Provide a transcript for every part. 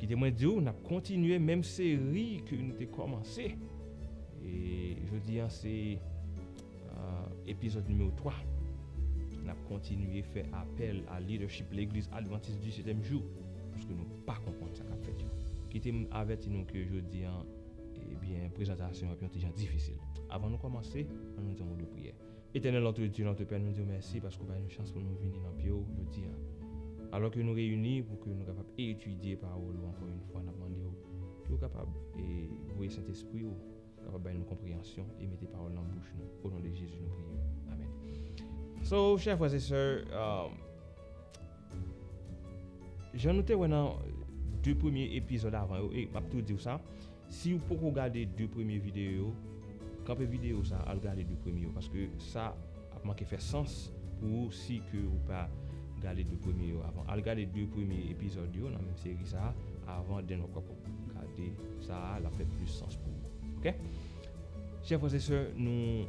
Kite mwen di w, n ap kontinye menm seri ke nou te kòmanse. E jodi an se epizòd nimewo 3. N ap kontinye fè apèl a lidèchip Legliz Advantis di Setyèm Jou, paske nou pa konprann sa k ap fèt yo. Kite m avèti nou ke jodi an, ebyen prezantasyon an ap yon ti jan difisil. Avan nou kòmanse, an nou di yon mo de priyè. Etènèl Antre Dye l antre Pè nou di w mèsi paske w bay nou chans pou nou vini nan pye w jodi a alò ke nou reyini pou ke nou kapab etidye pawòl ou ankò yn fwa n ap mande w ke w kapab voye Sentespri w kapab bay nou konpreyansyon e mete pawòl nan bouch nou o non de Jezi nou priye amen so chè frè e sè jan nou te wè nan 2 premye epizòd avan yo e m ap tou di w sa. Siw poko gade 2 premye videyo yo, kanpe videyo sa al gade 2 premye yo paske sa ap manke fè sans pou ou si ke ou pa gade 2 premye yo avan. Al gade 2 premye epizòd yo nan menm seri sa avan den wap kapab gade sa a lap fè plis sans pou ou ok. Chè frè se sè nou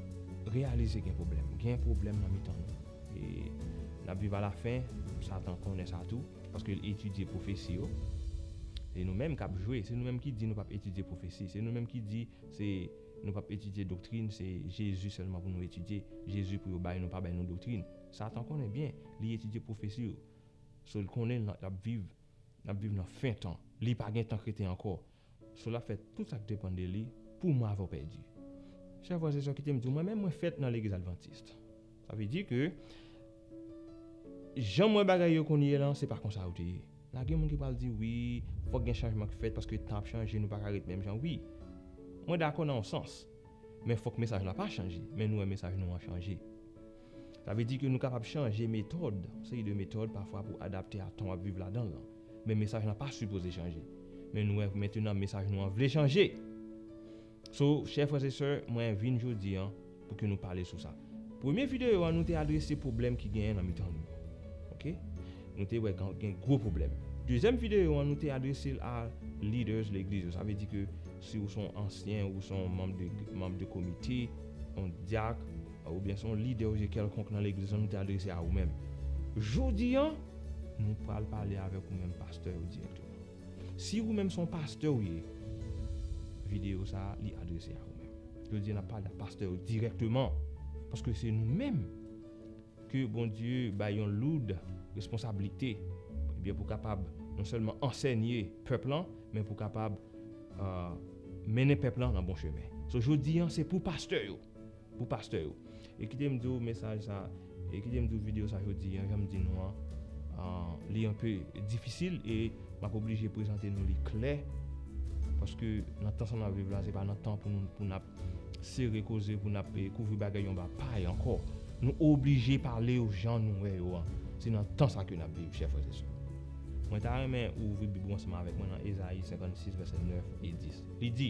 reyalize gen pwoblèm gen pwoblèm nan mitan nou e nap viv alafen satan konnen sa tou. Paske l etidye pwofesi yo. Se nou menm k ap jwe. Se nou menm ki di nou p ap etidye pwofesi. Se nou menm ki di se nou p ap etidye doktrin, se Jezi sèlman pou nou etidye. Jezi pou yo bay nou, pa bay nou doktrin. Satan konnen byen li etidye pwofesi yo. So l konnen l ap viv, l ap viv nan fen tan. Li pa gen tan kreten ankò. Soul ap fè tout sak depann de li pou mwen avèw pèdi. Chè frè se sè kitem diw mwen menm mwen fèt nan legliz adventist sa vle di ke janm wè bagay yo kounye lan se pa konsa yo te ye la gen moun ki pral di wi fòk gen chanjman ki fèt paske tan ap chanje nou paka ret menm jan wi mwen dakò nan yon sans men fòk mesaj la pa chanje men nou wè mesaj nou an chanje. Sa vle di ke nou kapab chanje metòd, yon seri de metòd pafwa pou adapte a tan wap viv ladan lan. Men mesaj lan pa sipoze chanje. Men nou wè mentenan mesaj nou an vle chanje! So, chè frè se sè, mwen vin jodi an pou ke nou pale sou sa. Premye videyo an nou te adrese pwoblèm ki genyen nan mitan nou. Ok? Nou te wè gen gwo pwoblèm. Dezyèm videyo an nou te adrese l a leaders legliz yo. Sa vle di ke si ou son ansyen, ou son manm de manm de komite, yon dyak, Oubyen se yon lide ou je kèlkonk nan legliz lan nou te adrese a ou menm. Jodi an, nou pral pale avèk ou menm pastè yo dirèkteman. Si ou menm se yon pastè ou ye, videyo sa a li adrese a ou menm. Jodi an n ap pale ak pastè yo dirèkteman, paske se nou menm ke Bondye bay yon loud responsablite, ebyen pou kapab non sèlman ansènye pèp lan, men pou kapab mennen pèp lan nan bon chemen. So jodi an se pou pastè yo. Pou pastè yo. E kite m di w mesaj sa, e kite m di w videyo sa jodi an, jan m di nou an, li anpe difisil e m ap oblije prezante nou li klè, paske nan tan sa n ap viv la, se pa nan tan pou nou pou n ap sere koze, pou n ap kouvri bagay anba pay ankò. Nou oblije pale yo jan nou wè yo an. Se nan tan sa ke n ap viv, chè frè e sè. Mwen ta renmen ou ouvri Bib ou ansanm avèk mwen nan Ezayi 56, vèsè 9 e 10. Li di.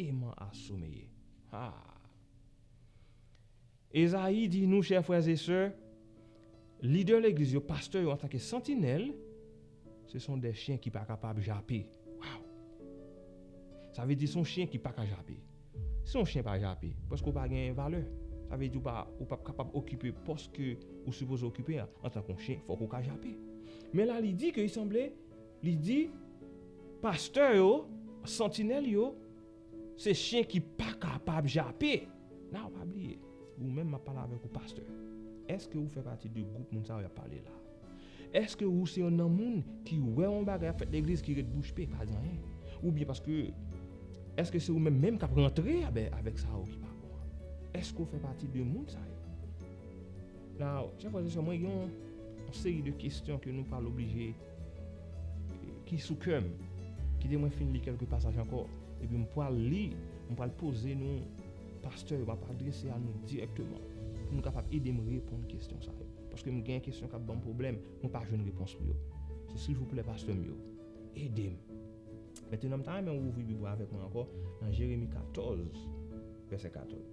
Eman a someye. Haa! Ezayi di nou, chè frè e sè, lidè legliz yo, pastè yo antanke santinèl, se son de chyen ki pa kapab jape. Waw! Sa vle di son chyen ki pa ka jape. Si yon chyen pa jape, paske ou pa gen valè. Sa vle di ou pa, ou pap kapab okipe pòs ke ou sipoze okipe a. Antanke yon chyen, fòk ou ka jape. Men la li di ke li sanble. Li di, Pastè yo, santinèl yo, se chyen ki pa kapab jape. Now, pa bliye, ou menm m ap pale avèk ou, pastè. Èske ou fè pati de gwoup moun sa yo y ap pale la a? Èske ou se yon nan moun ki wè yon bagay ap fèt legliz ki ret bouch pe, pa di anyen? Oubyen paske, èske se ou menm menm k ap rantre avèk sa yo ki pa bon an? Èske ou fè pati de moun sa yo? Now, chè frè se sè, mwen gen yon seri de kestyon ke nou pa loblije ki sou kè m. Kite mwen fin li kelke pasaj anko, epi m pwal li, m pwal poze nou pastè yo, m ap adrese a nou direkteman, pou nou kapab ede m reponn kestyon sa yo. Paske m gen kestyon kap ban m pwoblèm, mwen pa jwenn repons pou yo. So silvouplè pastè m yo, ede m. Metenan m ta renmen ou ouvri bib ou avèk mwen anko nan Jeremi 14 vèsè 14.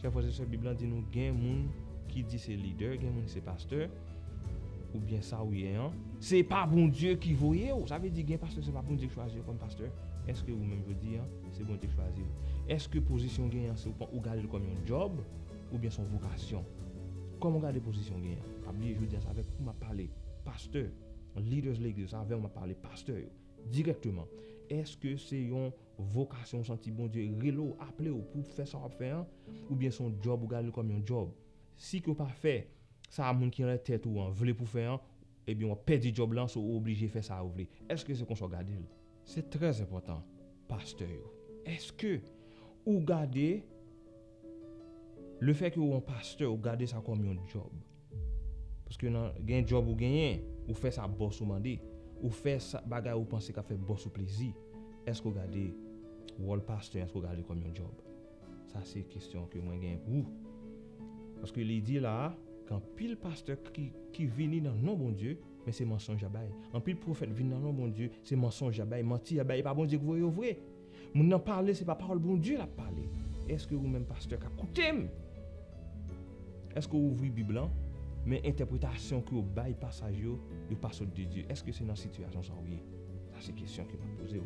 Chè frè se sè bib lan di nou gen moun ki di se lidè gen moun se pastè ou byen sa ou ye an se pa bondye ki voye ou sa vle di gen pastè se pa bondye ki chwazi yo kòm pastè eske ou menm jodi an se bondye ki chwazi ou eske pozisyon ou genyen an se ou gade l kòm yon djòb ou byen se yon vokasyon kòman ou gade pozisyon ou genyen an pa bliye jodi an se avèk ou map pale pastè leaders legliz se avèw map pale pastè yo dirèkteman eske se yon Vokasyon ou santi Bondye rele w, aple w pou w fè sa w ap fè an, oubyen se yon djòb ou gade l kòm yon djòb. Si ke w pa fè sa moun ki anlè tèt ou an vle pou w fè an, ebyen w ap pèdi djòb la, so ou oblije fè sa yo vle. Èske se konsa w gade l? Se trè enpòtan, pastè yo, èske ou gade. Le fè ke ou an pastè ou gade sa kòm yon djòb. Paske nan gen djòb ou genyen, ou fè sa bòs ou mande. Ou fè sa bagay ou panse kap fè bòs ou plezi. Eske ou gade wòl pastè an eske ou gade kòm yon djòb? Sa se kestyon ke mwen genyen pou ou. Paske li di la a, ke anpil pastè ki ki vini nan non Bondye, men se mansonj yap bay. Anpil pwofèt vini nan non Bondye, se mansonj yap bay, manti yap bay, e pa Bondye ki voye yo vre. Moun nan pale se pa pawòl Bondye lap pale eske ou menm pastè kap koutem eske ou ouvri bib lan men entèpretasyon ke ou bay pasaj yo yo pa sot de Dye eske se nan sitiyasyon sa ou ye sa se kesyon ke map pozew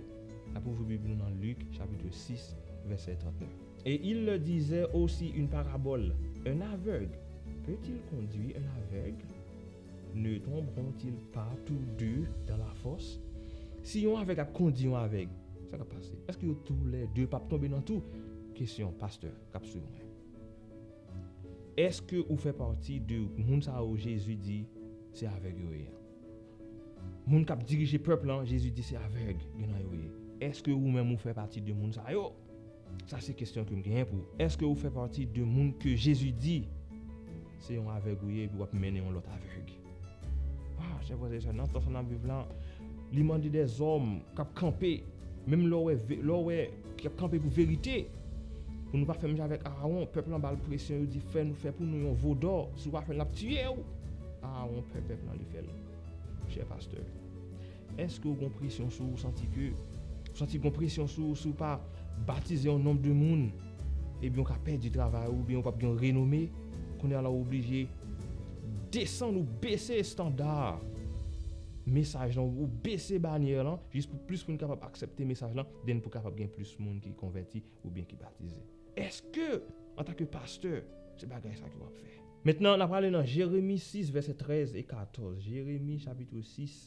nap ouvri bib nou nan Luc chapitre 6 verset 39. Et il leur disait aussi une parabole, Un aveugle peut-il conduire un aveugle? Ne tomberont-ils pas tous deux dans la fosse? Si yon avèg ap kondi yon avèg, sa k ap pase? Èske yo tou lè de p ap tonbe nan tou? Kesyon pastè k ap swiv mwen. Èske ou fè pati de moun sa yo Jezi di se avèg yo ye an? Moun k ap dirije pèp lan, Jezi di se avèg gen nan yo ye. Èske ou menm ou fè pati de moun sa yo? Sa se kesyon kem genyen pou ou. Eske ou fè pati de moun ke Jezi di se yon avèg ou ye epi wap mennen yon lòt avèg? Ah chè frè e sè nan tan sa nap viv la li mande de zòm kap kanpe menm lè wè lè wè ki ap kanpe pou verite pou nou pa fè menm jan avèk Arawon pèp lan bal presyon yo di fè nou fè pou nou yon vo dò si ou pa fèl nap tiyew Arawon pè pèp lan li fèl chè pastè. Eske ou gon presyon sou ou santi ke ou santi gon presyon sou ou si ou pa batize yon nonb de moun ebyen ou ka pèdi travay ou oubyen ou pap gen yon renome kounye a la ou oblije desann ou bese estanda mesaj lan ou bese banyè lan jis pou plis moun kapab aksèpte mesaj lan den pou kapab gen plis moun ki konvèti oubyen ki batize eske antake pastè se bagay sa ke wap fè. Mentnan na prale nan jeremi 6 vèsè 13 e 14 jeremi chapitre 6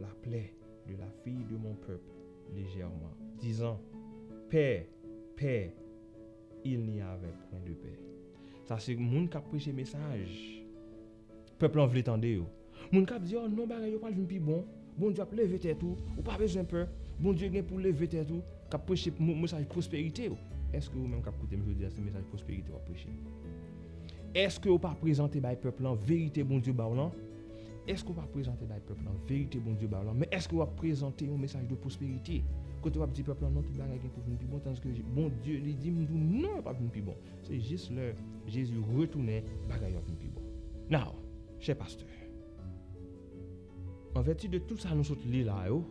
La plaie de la fille de mon peuple légèrement. Dizan, Pè, pè, il n'y avait point de pè. Sa se moun kap preche mesaj pèp lan vle tande yo. Moun kap di oh non bagay yo pral vin pi bon, Bondye ap leve tèt ou, ou pa bezwen pè, Bondye gen pou leve tèt ou, kap preche mesaj pwosperite yo. Eske ou menm kap koute m jodi a se mesaj pwosperite wap preche? Eske ou pa prezante bay pèp lan verite Bondye ba w lan? Èske w pa prezante bay pèp lan verite Bondye ba w lan, men èske w ap prezante yon mesaj de pwosperite, kote w ap di pèp lan non tout bagay gen pou vin pi bon tandiske Bondye li di m di w non yo p ap vin pi bon. Se jis lè Jezi retounen bagay yo ap vin pi bon. Now, chè pastè, an vèti de tout sa nou sot li la yo,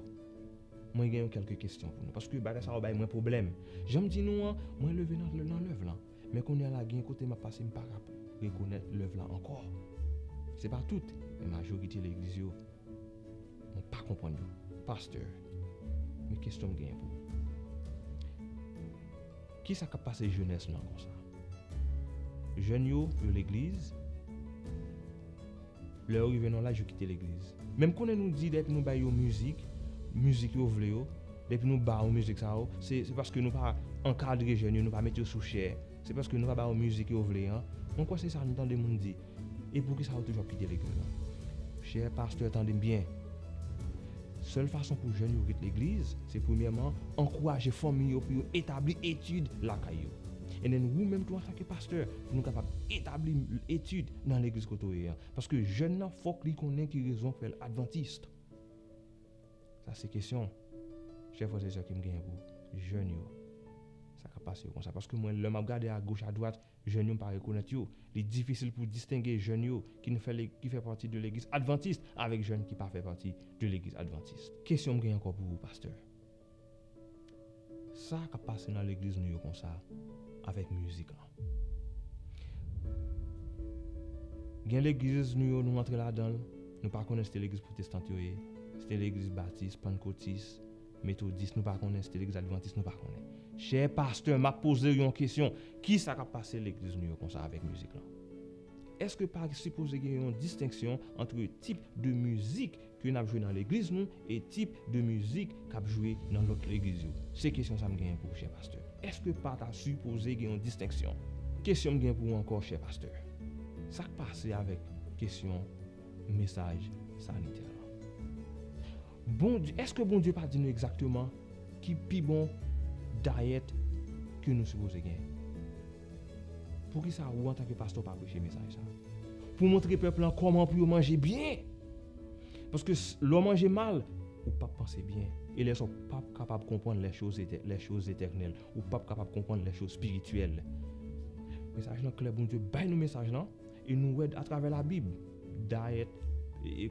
mwen gen yon kèlke kesyon pou nou, paske bagay sa yo bay mwen pwoblèm. Jan m di nou an, mwen leve nan lèv lan. Men kounya la gen kote map pase mpa ka rekonèt lèv la ankò. Se pa tout, men majorite legliz yo mwen pa konprann yo. Pasteur, men kesyon m genyen pou ou. Kisa kap pase jenès lan konsa? Jèn yo yo legliz? Lè yo rive nan laj yo kite legliz. Men m konnen nou di depi nou bay yo mizik, mizik yo vle yo, depi nou ba yo mizik sa yo, se se paske nou pa ankadre jèn yo, nou pa mete yo sou chè, se paske nou pa ba yo mizik yo vle an. Mwen kwè se sa nou tande moun di. E poukisa yo toujou ap kite legliz la? Chè pastè tande m byen. Sèl fason pou jèn yo ret legliz, se premyèman ankouraje fanmi yo pou yo etabli etid lakay yo. Endenn ou menm tou antanke pastè pou nou kapab etabli etid. nan legliz kote ou ye an. Paske jèn nan fòk li konnen ki rezon fèl adventiste. Sa se kesyon chè frè se sè kem genyen pou jèn yo. Sa ka pase yo konsa. Paske mwen lè map gade a goch a dwat jèn yo mpa rekonèt yo. Li difisil pou distenge jèn yo kin fè le ki fè pati de legliz adventiste avèk jèn ki pa fè pati de legliz adventiste. Kesyonm genyen ankò pou ou pastè. Sa kap pase nan legliz nou yo konsa avèk mizik lan. Gen legliz nou yo nou antre ladanl nou pa konnen si te legliz pwotestant yo ye, si te legliz batis, pannkotis, metodis nou pa konnen, si te legliz advantis nou pa konnen. Chè pastè map pozew yon kesyon, kisa kap pase legliz nou yo konsa avèk mizik lan? Eske pa sipoze gen yon distenksyon antre tip de mizik ke nap jwe nan legliz nou e tip de mizik kap jwe nan lòt legliz yo? Se kesyon sa m genyen pou ou chè pastè. Eske pa ta sipoze gen yon distenksyon? Kesyon m gen pou ou ankò chè pastè, sak pase avèk kesyon mesaj sanitè lan? Bondye, eske Bondye pa di nou egzakteman ki pi bon dayèt ke nou sipoze gen? Poukisa ou antanke pastè ou pa preche mesaj sa? Pou montre pèp lan kòman pou yo manje byen? Paske lè w manje mal, ou pap panse byen. E lè sa ou pap kapab konprann les choses eternelles. Ou pap kapab konprann les choses spirituelles. Mesaj lan klè Bondye bay nou mesaj lan e nou wè atravè la bib dayèt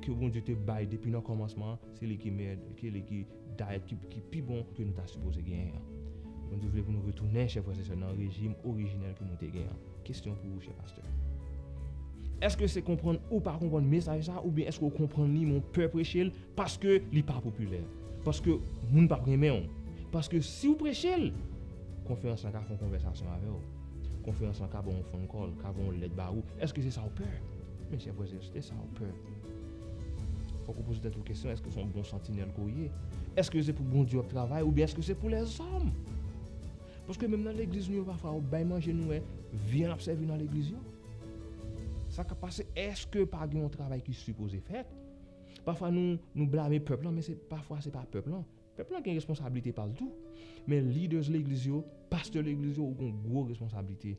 ke Bondye te bay depi nan kòmansman an se li ki mèt, se li ki Ta ekip ki pi bon ke nou ta sipoze genyen an. Bondye vle pou nou retounen, chè frè se sè, nan rejim orijinèl ke nou te genyen an. Kestyon pou ou, chè pastè. Eske se konprann ou pa konprann mesaj sa a oubyen eske ou konprann li men ou pè preche l paske li pa popilè? Paske moun pap renmen ou? Paske si ou preche l, konferans lan ka fè yon konvèsasyon avè ou. Konferans lan ka ba w yon phone call, ka voye yon lèt ba ou. Eske se sa ou pè? Men chè frè se sè, se sa ou pè. Fòk ou poze tèt ou kesyon, èske son bon santinèl ke w ye? Èske se pou Bondye w ap travay oubyen èske se pou lèzòm? Paske menm nan legliz nou yo pafwa ou bay manje nou wè vyann ap sèvi nan legliz yo. Sa kap pase èske pa gen yon travay ki sipoze fèt? Pafwa nou blame pèp lan men se pafwa se pa pèp lan. Pèp lan gen responsablite pa l tou. Men lidèz legliz yo, pastè legliz yo ou gen yon gwo responsablite.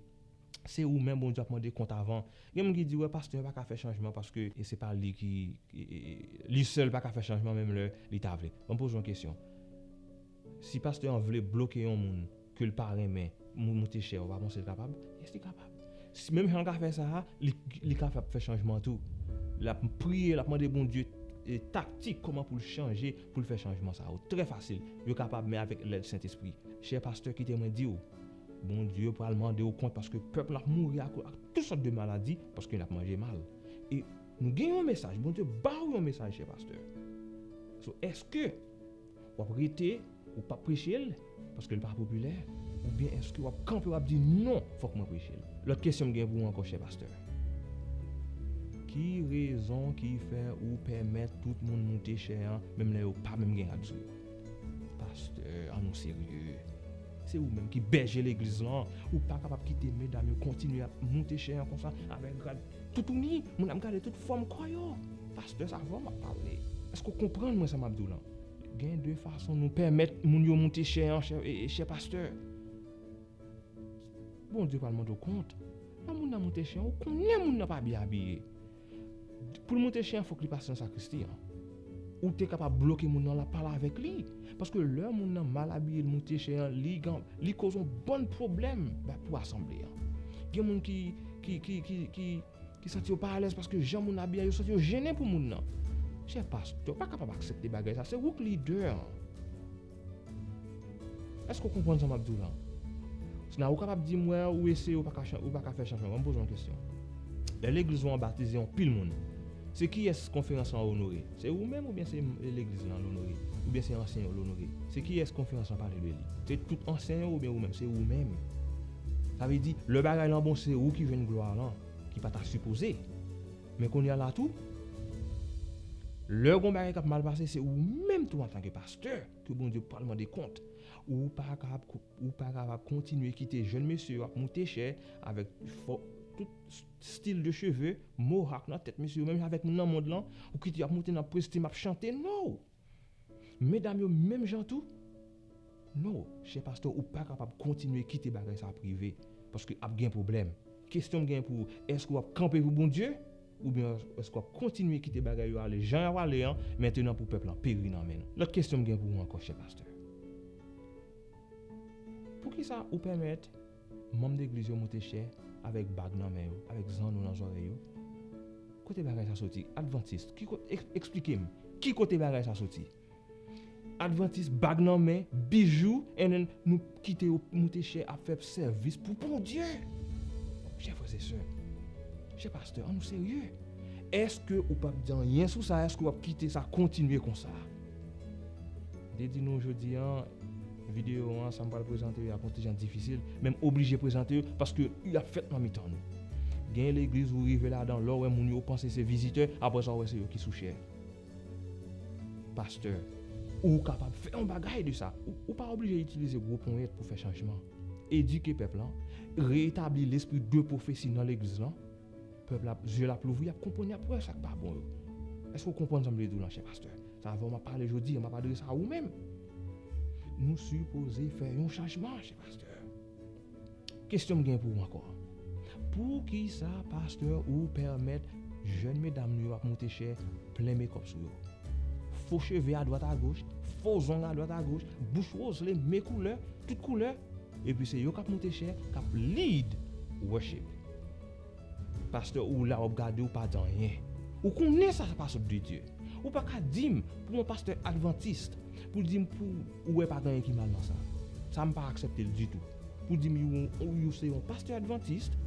Se ou menm Bondye ap mande kont avan. Gen moun ki di wè pastè pa ka fè chanjman paske se pa li ki li sèl pa ka fè chanjman menm lè li ta vle. Banm poze yon kesyon. Si pastè an vle bloke yon moun ke l pa renmen moute chè ou pa panse l kapab? Yes li kapab. Menm jan l ka fè sa a li ka fè chanjman tou. L ap priye l ap mande Bondye taktik kòman pou l chanje pou l fè chanjman sa yo. Trè fasil. Yo kapab men avèk lèd Sentespri. Chè pastè kite mwen di ou. Bondye pral mande ou kont paske pèp la ap mouri ak tout sòt de maladi paske nap manje mal e nou gen yon mesaj Bondye baw yon mesaj chè pastè so eske wap rete ou pap prechel paske li pa popilè oubyen eske wap kanpe wap di non fòk mwen prechel lòt kesyon m gen pou ou ankò chè pastè ki rezon ki fè ou pèmèt tout moun moute chè an menm lè yo pa menm gen rad sou yo. Pastè an nou serye? Se ou menm ki bèje legliz lan, ou pa kapab kite medam yo kontinye ap moute chè an konsa avèk grad toutouni, moun ap gade tout fòm kò yo. Pastè sa avèw map pale, èske ou konprann mwen sa map diw lan? Gen de fason nou pèmèt moun yo moute chè an chè pastè. Bondye pral mandew kont, lè moun nan moute chè an ou konnen moun nan pa byen abiye. Poul moute chen fok li pase nan sakristi an. Ou te kapab bloke moun nan la pale avek li. Paske lè moun nan mal abiye li moute chen an li koz yon bann pwoblèm pou asanble an. Gen moun ki santi yo pa alèz paske jan moun abiye yo santi yo jennen pou moun nan. Chè pastè ou pa kapab aksepte bagay sa se ou k lidè an. Èske ou konprann sa m ap di w la? Sila ou kapab di m wè ou eseye ou pa ka ou pa ka fè chanjman. Ban m poze w yon kesyon. Lè legliz ou an batize yon pil moun, se kiyès konferans lan onore? Se ou menm oubyen se legliz lan l onore? Oubyen se ansyen yo l onore? Se kiyès konferans lan pale de li? Se tout ansyen yo oubyen ou menm? Se ou menm. Sa vle di, lè bagay lan bon se ou ki jwenn glwa lan, ki pa ta sipoze. Men kounye a la tou, lè gen yon bagay k ap mal pase se ou menm tou antanke pastè. Pastè ke Bondye pral mande kont. Ou pa kapab kontinye kite jèn mesye yo ap moute chè avèk tout stil de cheve, mohawk nan tèt mesye yo menm jan avèk moun nan mond lan, ou kite yo ap moute nan prestim ap chante no! Medam yo menm jan tou no! Chè pastè ou pa kapab kontinye kite bagay sa ap rive paske ap gen pwoblèm. Kesyon m gen pou ou, èske w ap kanpe pou Bondye? Oubyen èske w ap kontinye kite bagay yo ale jan y ap ale an, mentenan pou pèp lan peri nan men nou? Lòt kesyon m gen pou ou ankò, chè pastè, poukisa ou pèmèt manm legliz yo moute chè avèk bag nan men yo, avèk zanno nan zòrèy yo? Kote bagay sa soti? Advantist, ki kot, esplike m, ki kote bagay sa soti? Advantis bag nan men, bijou and then nou kite yo moute chè ap fè sèvis pou Bondye. Chè frè se sè, chè pastè an nou serye. Eske ou pap di anyen sou sa, eske wap kite sa kontinye konsa? M te di nou jodi an videyo an sa m pral prezante yo ap yon ti jan difisil, men m oblije prezante yo paske yo ap fèt nan mitan nou. Gen legliz ou rive ladan lè w wè moun yo ou panse se vizitè, aprè sa ou wè se yo ki sou chè. Pastè, Ou kapab fè yon bagay de sa. Ou pa oblije itilize gwo ponyèt pou fè chanjman. Edike pèp lan, reetabli lespri de pwofesi nan legliz lan, pèp la, zye l ap louvri, y ap konprann, y ap wè sa k pa bon yo. Èske ou konprann sa m vle di w lan, chè pastè? Se avè w m ap pale jodi a, m ap adrese a ou menm. Nou sipoze fè yon chanjman, chè pastè. Kesyon m gen pou ou ankò. Poukisa pastè ou pèmèt jèn medam nou yo ap moute chè plen mekòp sou yo. Fo cheve a dwat a goch, fo zong a dwat a goch, bouch wozle, me koulè, tout koulè, epi se yo kap moute chè, kap lead worship. Pasteur ou la wap gade ou pa di anyen. Ou konnen sa sa pa sot de Dieu. Ou pa ka dim pou yon pasteur adventiste pou dim pou ou wè pa gen anyen ki mal nan sa. Sa m pa aksepte l ditou. Pou dim you se yon pasteur adventiste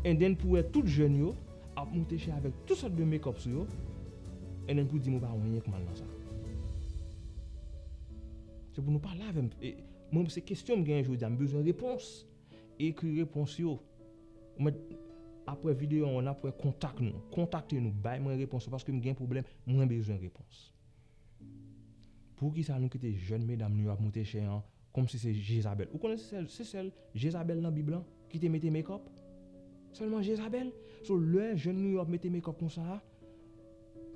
and then pou wè tout jeune yo ap monte chè avek tout sot de make up sou yo and then pou dim ou pa wè anyen k mal nan sa. Se pou nou pale avè m. Mwen se kesyon m genyen jodi a m bezwen repons. Ekri repons yo. Ou mèt Aprè videyo an nap wè kontak nou. Kontakte nou bay mwen repons yo paske m gen pwoblèm mwen bezwen repons. Poukisa nou kite jèn medam nou yo ap moute chè an kòmsi se Jezabèl. Ou konnen se sèl se sèl Jezabèl nan bib lan ki te mete mekòp? Sèlman Jezabèl? So lè jèn nou yo ap mete mekòp konsa a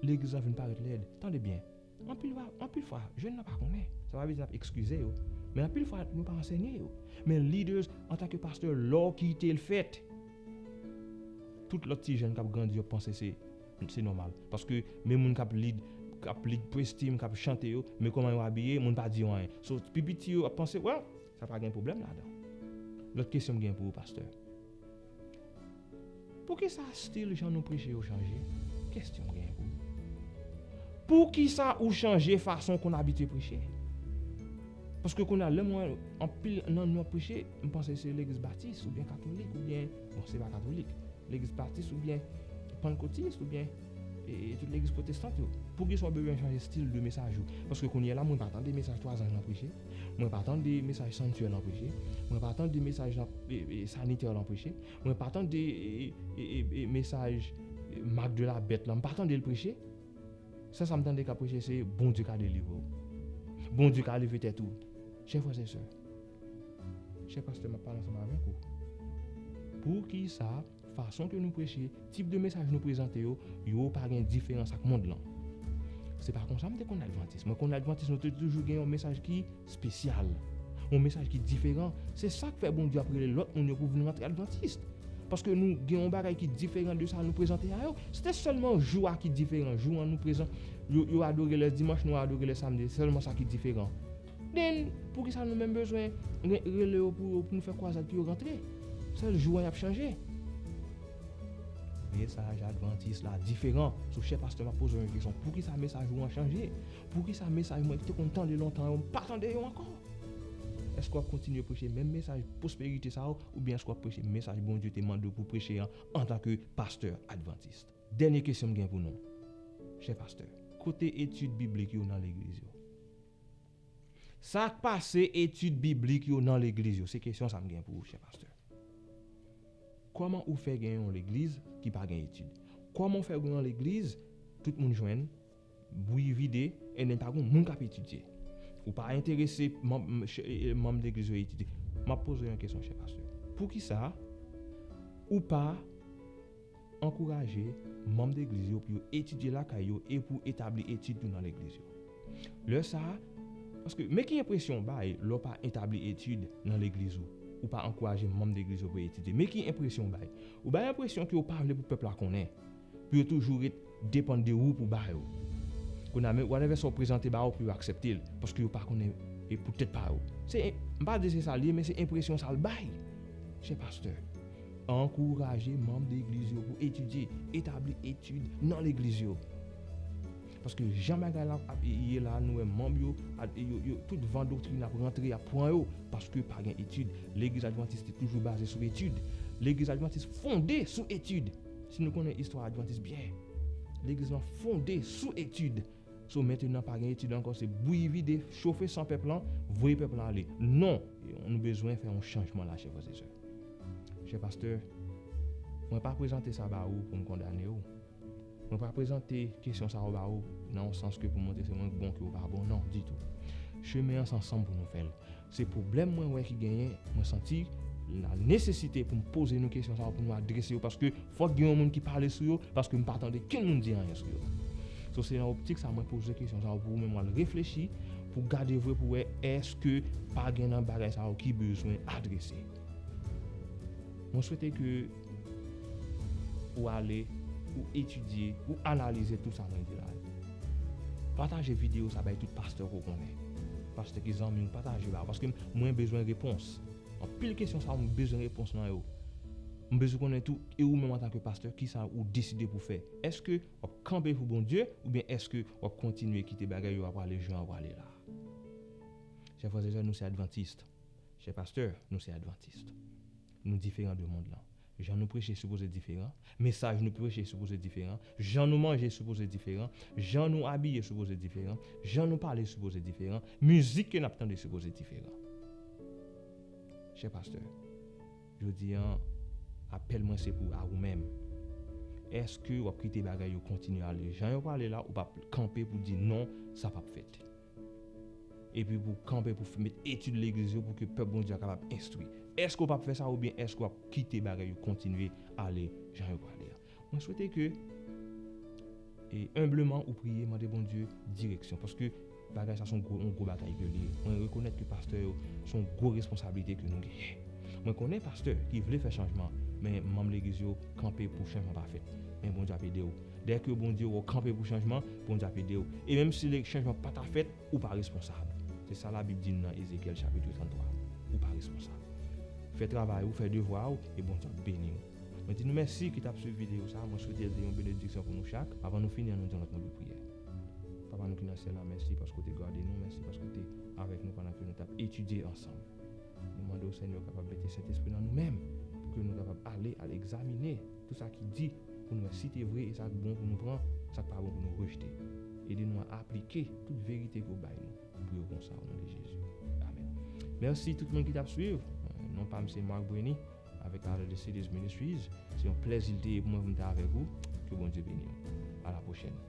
legliz lan vin parèt lèd. Tande byen. Anpil fwa, jèn nan pa konnen. Sa pa vle di n ap ekskize yo. Men anpil fwa, nou pa ansenye yo. Men leaders, antanke pastè, lè w kite l fèt, tout lòt ti jèn k ap grandi yo ap panse se se nòmal. Paske menm moun k ap lead, k ap lead praise team, k ap chante yo, men kòman yo abiye, moun pa di yo anyen. So, pi piti yo ap panse, well, sa pa gen pwoblèm ladan. Lòt kesyon m gen pou ou, pastè. Poukisa stil jan nou preche yo chanje? Kesyon m genyen pou nou. Poukisa ou chanje fason konn abitye preche? Paske kounye a lè m wè anpil nan nou ap preche, m panse se legliz batis oubyen katolik oubyen, bon se pa katolik, legliz batis oubyen pannkotis oubyen tout legliz pwotestant yo. Poukisa ou bezwen chanje stil de mesaj ou? Paske kounye la mwen pa tande mesaj 3 zanj lan preche. Mwen pa tande mesaj sanitè lan preche, mwen pa tande mesaj sanitè lan preche, mwen pa tande mesaj mak de la bèt lan, mwen pa tande l preche. Sèl sa m tande kap preche se Bondye ka delivre w. Bondye ka leve tèt ou. Chè frè chè sè, chè pastè map pale ansanm avèk ou. Poukisa? Fason ke nou preche, tip de mesaj nou prezante yo, yo pa gen diferans ak mond lan. Se pa konsa m te konn Advantis. Mwen konn Advantis nou te toujou gen yon mesaj ki spesyal. Yon mesaj ki diferan. Se sak fè Bondye ap rele lòt moun yo pou vin rantre Advantis. Paske nou gen yon bagay ki diferan de sa nou prezante a yo. Se te sèlman jou a ki diferan. Jou an nou prezan, yo adore lè dimanch, nou adore lè samdi. Se sèlman sa ki diferan. Then, poukisa nou menm bezwen rele yo pou nou fè kwazad pou yo rantre? Sèl jou an yap chanje. Mesaj advantis la diferan. So chè pastè map poze w yon kesyon, poukisa mesaj ou an chanje? Poukisa mesaj mwen te konn tande lontan yo m pa tande yo ankò? Èske wap kontinye preche menm mesaj pwosperite sa yo oubyen èske wap preche mesaj Bondye te mande w pou w preche an antanke pastè advantis? Dènye kesyon m gen pou nou, chè pastè. Kote etid biblik yo nan legliz yo? Sa k pase etid biblik yo nan legliz yo? Se kesyon sa m gen pou ou, chè pastè. Kòman ou fè gen yon legliz ki pa gen etid? Kòman ou fè gen yon legliz tout moun jwenn, bwi vide, enben pa gen moun k ap etidye? Ou pa enterese manm legliz yo etidye? M ap poze w yon kesyon, chè pastè. Poukisa ou pa. Ankouraje manm Legliz yo pou yo etidye lakay yo e pou etabli etid tou nan Legliz yo. Lè sa a, paske, men ki enpresyon w bay lè w pa etabli etid nan Legliz ou, ou pa ankouraje manm Legliz yo pou yo etidye. Men ki enpresyon w bay. Ou bay enpresyon ke ou pa vle pou pèp la konnen, pou yo toujou ret. depan de ou pou ba yo kounye a men whatever sa ou prezante ba yo pou yo aksepte l paske yo pa konnen e pou tèt pa yo se m pa di se sa l ye men se enpresyon sa l bay chè pastè ankouraje manm de egliz yo pou etidye etabli etid nan legliz yo paske jan bagay la ap ye la nou wè manm yo yo tout van doktrin ap rantre y ap pran yo paske pa gen etid legliz advantis te toujou baze sou etid legliz advantis fonde sou etid. Si nou konnen istwa advantis byen, legliz lan fonde sou etid. So mentenan pa gen etid ankò se bouyi vide, chofe san pèp lan, voye pèp lan ale. Non! Nou bezwen fè yon chanjman la chè frè e sè. Chè pastè, mwen pa prezante sa ba ou pou m kondane ou. Mwen pa prezante kesyon sa yo ba ou nan yon sans ke pou montre se mwen k bon ke ou pa bon. Non! Ditou. Chemen an se ansanm pou nou fè l. Se pwoblèm mwen wè ki genyen, mwen santi la nesesite pou m poze nou kesyon sa yo pou nou adrese yo paske fòk gen yon moun ki pale sou yo paske m pa tande kenn moun di anyen sou yo. So se nan optik sa mwen poze kesyon sa yo pou ou menm al reflechi pou gade vre pou wè èske pa gen nan bagay sa yo ki bezwen adrese. Mwen swete ke. Ou ale, ou etidye, ou analize tout sa mwen di la yo. Pataje video sa bay tout pastè ke w konnen. Pastè ki zanmi w, pataje ba yo. Paske mwen bezwen repons. Anpil kesyon sa yo m bezwen repons nan yo. M bezwen konnen tou, e ou menm antanke pastè, kisa ou deside pou fè. Eske w ap kanpe pou Bondye, oubyen eske w ap kontinye kite bagay yo ap ale jan yo ap ale la. Chè frè e sè, nou se advantist. Chè pastè, nou se advantist. Nou diferan de mond lan. Jan nou preche sipoze diferan. Mesaj nou preche sipoze diferan. Jan nou manje sipoze diferan. Jan nou abiye sipoze diferan. Jan nou pale sipoze diferan. Mizik ke n ap tande sipoze diferan. Chè pastè, jodi an, apèl mwen se pou a ou menm. Èske w ap kite bagay yo kontinye ale jan yo prale la ou p ap kanpe pou di non, sa p ap fèt? Epi pou w kanpe pou fè met etid legliz yo pou ke pèp Bondye a kapab enstwi. Èske w pap fè sa oubyen èske w ap kite bagay yo kontinye ale jan yo prale a? Mwen swete ke e enbleman ou priye mande Bondye direksyon paske bagay sa se yon gwo yon gwo batay ke li ye. Mwen rekonèt ke pastè yo se yon gwo responsablite ke nou genyen. Mwen konnen pastè ki vle fè chanjman men manm legliz yo kanpe pou chanjman pa fèt. Men Bondye ap ede w. Dè ke Bondye wè w kanpe pou chanjman, Bondye ap ede w. E menm si chanjman pa ta fèt, ou pa responsab. Se sa Labib di n nan Ezekyèl chapitre 33. Ou pa responsab. Fè travay ou, fè devwa ou, e Bondye ap beni w. Mwen di nou mèsi ki t ap swiv videyo sa a. Mwen swete l te yon benediksyon pou nou chak. Avan nou fini, an nou di yon lòt mo de priyè. Papa nou ki nan Syèl la, mèsi paske w te gade nou. Mèsi paske w te avèk nou pandan ke nou t ap etidye ansanm. Nou mande w, Senyè, w kapab mete Sentespri w nan nou menm pou ke nou kapab ale al egzamine. Tout sa ki di, pou n wè si te vre e sa k bon pou nou pran, sa k pa bon pou nou rejte. Ede nou a aplike tout verite ke w bay nou pou yo konsa o non de Jezi. Amen. Mèsi tout moun ki tap swiv. Non pa m se Marc Breny avèk Out of the Cities Ministries. Se yon plèzi l te ye pou mwen pou m ta avèk ou. Ke Bondye beni w. A la pwochèn.